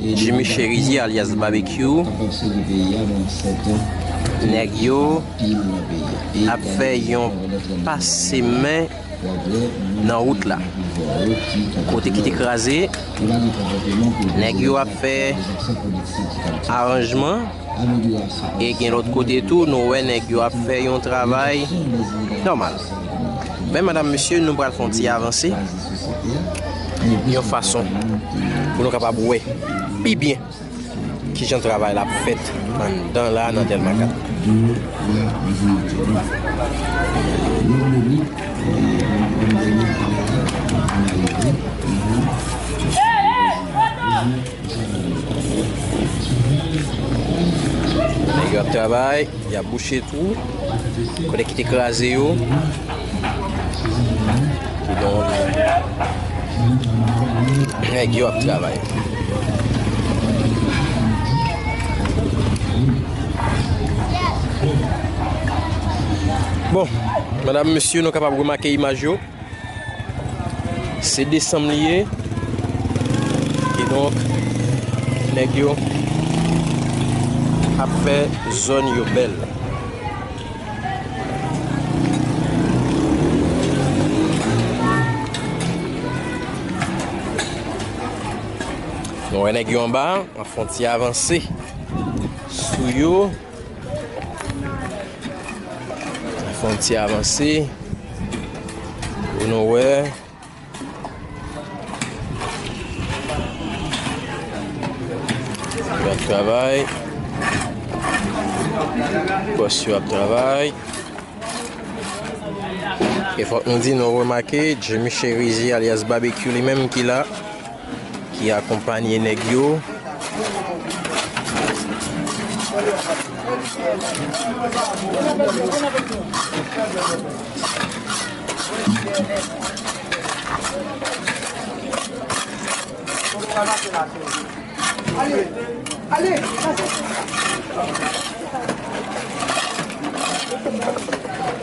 Jimmy Cherizier alyas Babekyou nèg yo ap fè yon pase men nan wout la kote ki te kraze nèg yo ap fè aranjman e gen lòt kote tou nou wè nèg yo ap fè yon travay nòmal. Men madam mesye nou pral fè yon ti avanse yon fason pou nou kapab wè pi byen kijan travay la ap fèt anndan la nan Dèlma 4. Yap bouche twou kote ki te kraze yo kidonk nèg yo ap travay. Bon, medam mesye nou kapab remake imaj yo. Se desanm li ye. Ki donk, nèg yo ap fè zòn yo bèl. Nou wè nèg yo anba, ap fon ti avanse sou yo. Fè yon ti avanse. Pou nou wè. Yo ap travay. Bòs yo ap travay. E fòk nou di nou remake Jimmy Cherizier alias Babekyou li menm ki la. ki akonpanye nèg yo.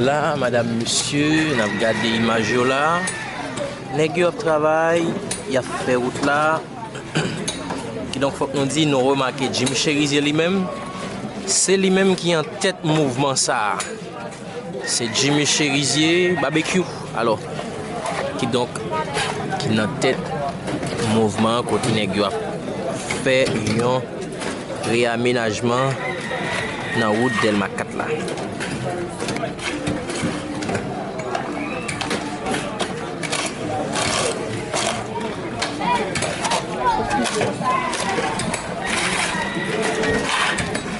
La madam mesye nap gade imaj yo la Nèg yo ap travay Yap fè wout la Kidonk fòk nou di nou remake Jim Cherizier li menm Se li menm ki antèt mouvman sa Se Jimmy Cherizier Babekyou alò ki donk ki nan tèt mouvman kote nèg yo ap fè yon reyamenajman nan wout Dèlma 4 la.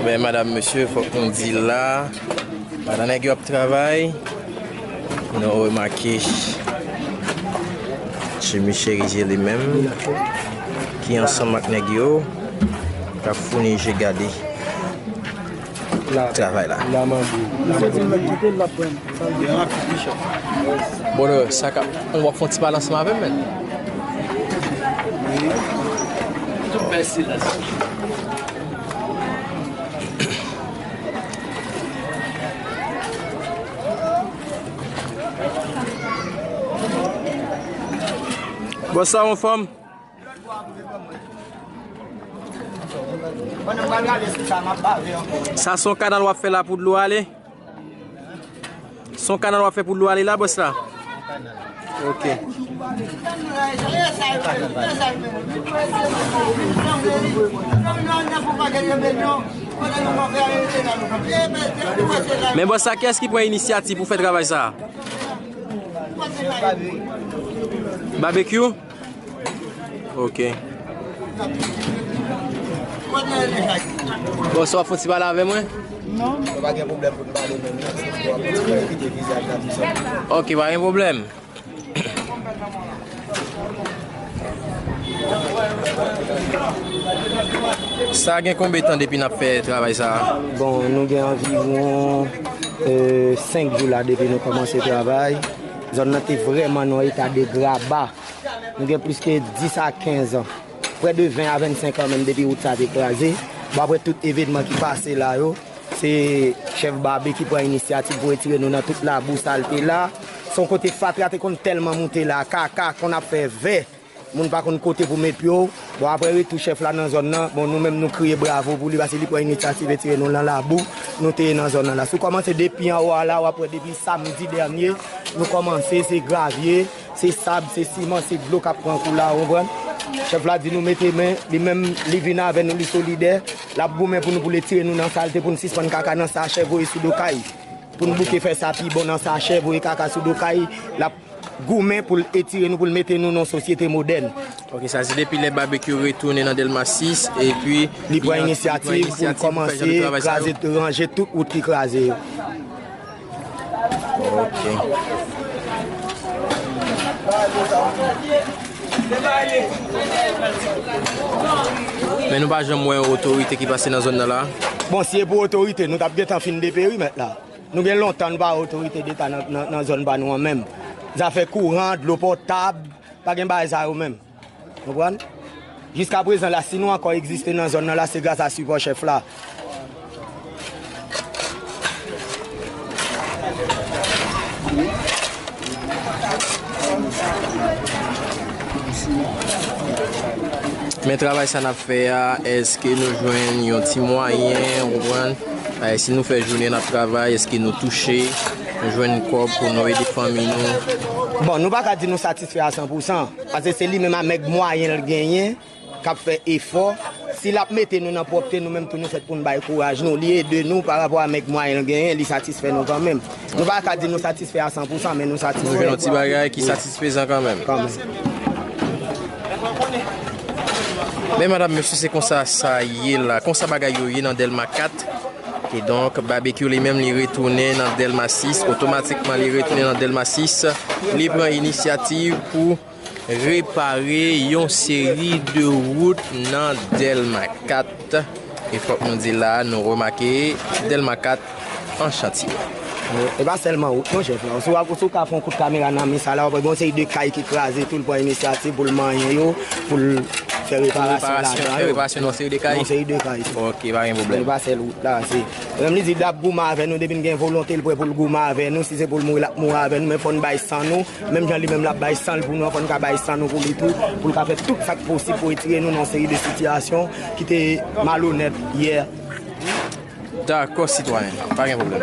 Ebyen madam mesye fok nou di la Pandan nèg yo ap travay Nou remake Jimmy Cherizier li menm Ki ansanm ak nèg yo Kap founi je gade travay la. Brother sa kap on wap fon ti balansman avèm menn. Bon sa on fanm? Sa son kanal wap fè la pou dlo ale? Son kanal wap fè pou dlo ale la bòs la? Ok. Men bòs la kès ki pwen inisyati pou fè travay sa? Babekyou? Ok. Bon, so fouti pale avè mwen? Non. Mwen pa gen problem pou pale men mwen. Ok, pa gen problem. Sa gen konbe tan depi nap fè travay sa? Bon, nou gen anviron 5 jou la depi nou komanse travay. Zòn nan te vrèman nan yon eta de graba nou gen plis ke 10 a 15 an, prè de 20 a 25 an menm depi wout sa te kraze. Bon aprè tout evenman ki pase la yo, se chèf Babe ki pran inisyativ pou retire nou nan tout labou, salte la. Se yon kote fatra te konn tèlman moute la, kaka konn ap fè vè. Moun pa konn kote pou met pye w. Bon aprè retou chèf la nan zòn nan, bon nou menm nou kriye bravo pou li pase li pran inityativ retire nou lan labou nou te ye nan zòn nan la. Si w kòmanse depi anwo a la, w ap wè depi samdi dènye nou kòmanse se gravye, se sab, se siman, se dlo k ap pran kou la ou konprann. Chèf la di nou mete men, li menm li vin avè nou li solidè, l ap goumen pou nou pou l etire nou nan salte pou n sispann kaka nan sachè voye sou do kay. Pou n bouke fè sa pi bon nan sachè voye kaka sou do kay, l ap. goumen pou l etire nou, pou l mete nou nan yon sosyete modèn. Ok, sa se depi lè Babekyou retounen nan Dèlma 6, epi li pran inisyativ pou l kòmanse kraze, ranje tout wout ki kraze yo. Men nou pa janm wè yon otorite ki pase nan zòn nan la? Bon, si e pou otorite, nou t ap gentan fin deperi mèt la. Nou gen lontan nou pa wè otorite deta nan zòn pa nou an menm. Zafè kouran, dlo potab, pa gen bagay sa yo menm. Konprann? Jiska prezan la si nou ankò egziste nan zòn nan la se gras a sipò chèf la. Men travay sa nap fè a eske nou jwenn yon ti mwayen, konprann? Si nou fè jounen nap travay eske nou touche, nou jwenn kòb pou nou ede fanmi nou? Bon nou paka di nou satisfè a san pou san, pase se li menm amèg mwayen l genyen kap fè efò, si lap mete nou nan pwòpte nou menm tou nou fèt poun bay kouraj nou, li ede nou parapò amèg mwayen l genyen li satisfè nou kanmenm. Nou pa ka di nou satisfè a san pou san, men nou satisfè. Nou jwenn yon ti bagay ki satisfezan kan menm. Kan menm. Men madam, mesye se konsa sa ye la. Konsa bagay yo ye nan Delma 4. E donk, Babekyou li menm li retounen nan Delma 6. Otomatikman li retounen nan Delma 6. Li pran inisyativ pou... Repare yon seri de wout nan Dèlma 4. E fòk nou di la a nou remake Dèlma 4 an chantye. E pa sèlman wout non chèf la. Ou si wap, ou si w ka fè yon kout kamera nan mi sa la wap wè gen yon seri de kay ki kraze tou l pran inisyativ pou l manyen yo, pou l fè reparasyon ladan yo. Fè reparasyon nan yon seri de kay? Nan yon seri de kay tou. Ok, pa gen pwoblèm. Se pa sèl wout la. Se, menm li di lap goumen avè nou depi n gen volonte l prè pou l goumen avè nou. Si se pou l mouri lap mouri avè nou men fò n bay san nou. Menm jan li menm l ap bay san l pou nou an, fò nou ka bay san nou pou li tou, pou l ka fè tout sa k posib pou retire nou nan yon seri de sitiyasyon ki te malonèt yè. Dakò sitwayen, pa gen pwoblèm.